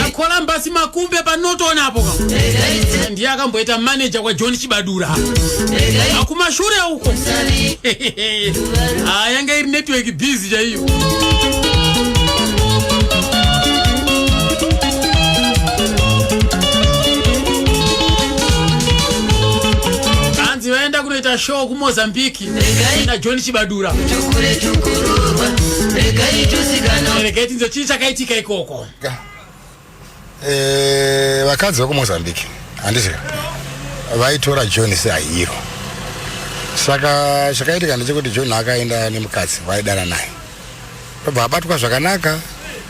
akolambasi makumbe panotoona apo ndiye akamboita maneja kwajohn chibadura akumashure uko ah, yanga iri network busy chaiyo kanzi vaenda kunoita show kumozambique na john chibadura regai tinzwe chii chakaitika ikoko eh, vakadzi vekumozambique handizvo vaitora john seahiro saka chakaitika ndechekuti john akaenda nemukadzi vaidana naye robva abatwa zvakanaka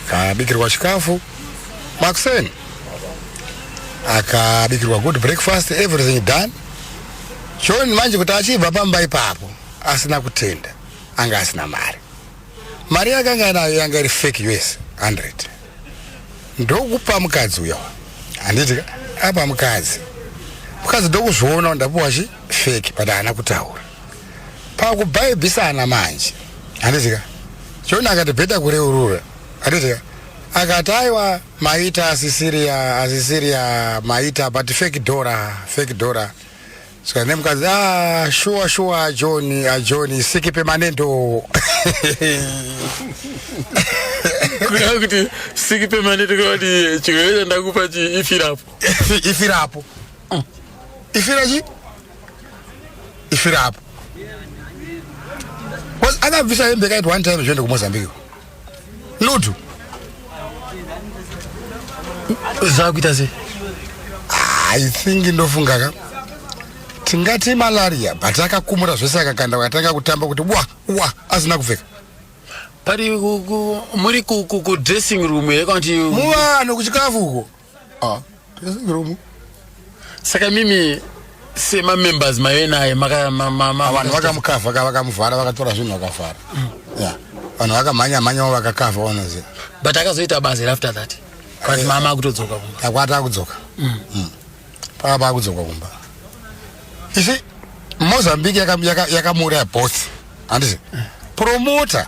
kabikirwa chikafu makuseni akabikirwa good breakfast everything done John manje kuti achibva pamba ipapo asina kutenda anga asina mari mari yakanga anayo yanga iri fake us 100 ndokupa mukadzi uyo handiti apa mukadzi mukadzi ndokuzviona ndapuwa chi fake but haana kutaura pakubhaibhisana manje handitika chona akati bheta kureurura handitika akati aiwa Maita asisiria asisiria maita but fake dora fake dora saka nemukadzi ah shuwa shuwa ajoni ajoni siki pemanendo kureva kuti siki pemanendo kuti chirwere chandakupa chi ifirapo ifirapo mm. ifira chi ifirapo akabvisa hembe kaiti one time zvoende kumozambique lutu zvakuita sei i think ndofunga ka tingati malaria but akakumura zvese akakanda akatanga kutamba kuti wa wa asina kupfeka pari muri kudressing room here kana kuti muvanhu kuchikafu uko Ah, ndakasangiromo. Saka mimi sema members maive naye maka ma, ma, ma, vanhu vakamukavha ka vakamuvhara vakatora zvinhu vakavhara mm. ya vanhu vakamhanya mhanyawo vakakavha wanoziva but akazoita basa here after that but eh, mama akutodzoka kumba akwati akudzoka mm. mm. paka paakudzoka kumba isi mozambique yakamuuraya yaka both handisi mm. promota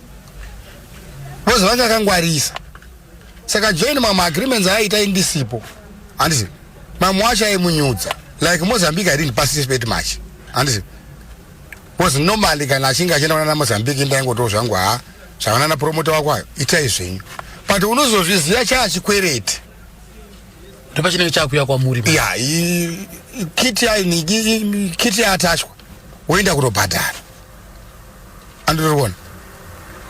Because vanga kangwarisa. Saka join mamwe agreements ayaita indisipo. Handisi. Mamwe wacho aimunyudza. Like Mozambique I didn't participate much. Handisi. Because normally kana achinge achienda kuna Mozambique ndaingoto zvangu ha. Zvavana na promoter wako ayo. Itai zvenyu. But unozozviziva cha achikwereti. Ndopa chinenge chakuya kwa muri. Yeah, kiti ya kiti ya attachwa. Woenda kutobhadhara. andiriona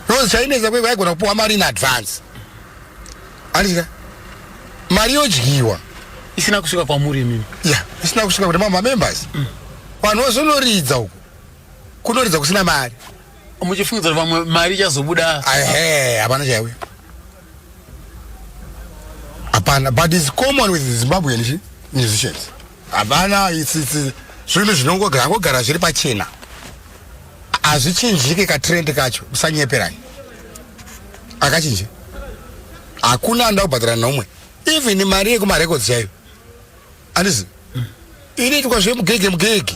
rose chainetsa kwekwe aigona kupiwa mari in advance andika mari yodyiwa isina kusvika kwamuri imimi ya yeah, isina kusvika kuti mamamembers mm. vanhu mm. vazonoridza uku kunoridza kusina mari muchifungidzira vamwe mari ichazobuda ehe hapana chaiwe hapana but is common with zimbabwean musicians Havana isisi zvinhu zvinongogara zviri pachena hazvichinjike katrend kacho usanyeperani akachinje hakuna anoda kubhadhara nomwe even mari yekumarecords chaiyo andizi inoitwa zvemugege mugege